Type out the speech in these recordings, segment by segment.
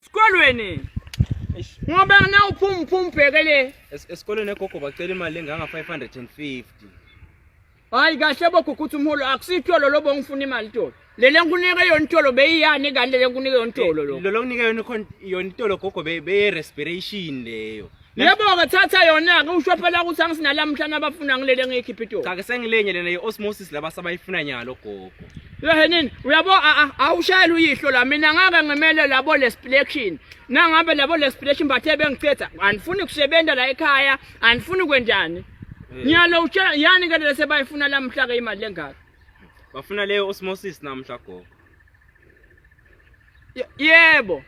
Sikolweni. Ngoba na uphuma uphuma ubheke le. Esikolweni egogo bacela imali enganga 550. Hayi kahle bokukuthi umholo akusitholo lobo ngifuna imali tolo. Lele ngikunike yona itolo beyiyani kanti lele ngikunike yona itolo lo. Lolo ngikunike yona yona itolo gogo beye respiration leyo. Yebo-ke thatha yona-ke usho phela ukuthi angisinalamuhla nabafuna ngilele engiyikhipha itoko. Cha ke sengilenye lena ye-osmosis laba sabayifuna nyalo gogo. Lehenini uyabo awushayela uyihlo la mina ngake ngimele labo lesplection nangabe labo lesplection bathe bengicetha anifuni kusebenza la ekhaya anifuni kwenjani eh. Ngiyalo utshela yani ke lese bayifuna lamhla ke imali lengaka Bafuna leyo osmosis namhla gogo Yebo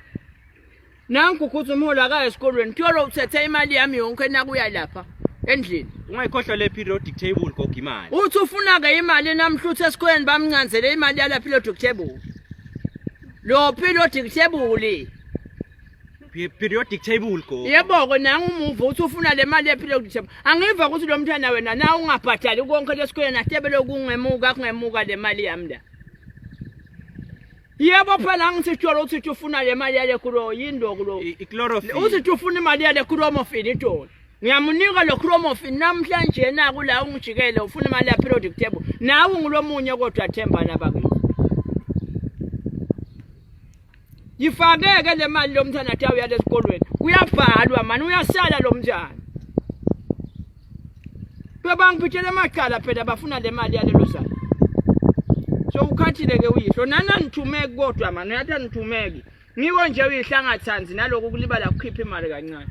Nanku ukuthi umholi akaye esikolweni kuyolo uthethe imali yami yonke nakuya lapha endlini. Ungayikhohlwa le periodic table gogo imali. Uthi ufuna ke imali namhluthe esikolweni bamncanzele imali yala periodic table. Lo periodic table. Periodic table gogo. Yebo ke nangu umuva uthi ufuna le mali periodic table. Angiva ukuthi lo mntwana wena na ungabhadali konke lesikolweni atebele kungemuka kungemuka le mali yami la. Yebo phela ngisitsholo ukuthi uthi ufuna le mali yale kulo yindo kulo. Ichlorophene. Uthi ufuna imali yale chlorophene itolo. Ngiyamunika lo chlorophene namhlanje na kula ungijikele ufuna imali ya periodic table. Nawe ngulomunye kodwa themba laba kimi. Yifakeke le mali lomntana athi awuyale esikolweni. Kuyabhalwa mani uyasala lomntana. Bebangiphuthela amacala phela bafuna le mali yalelo sala. So ukhathile ke uyihlo nani anithumeki kodwa mani uyathi anithumeki. Ngiko nje uyihlangathanzi naloku kulibala kukhipha imali kancane.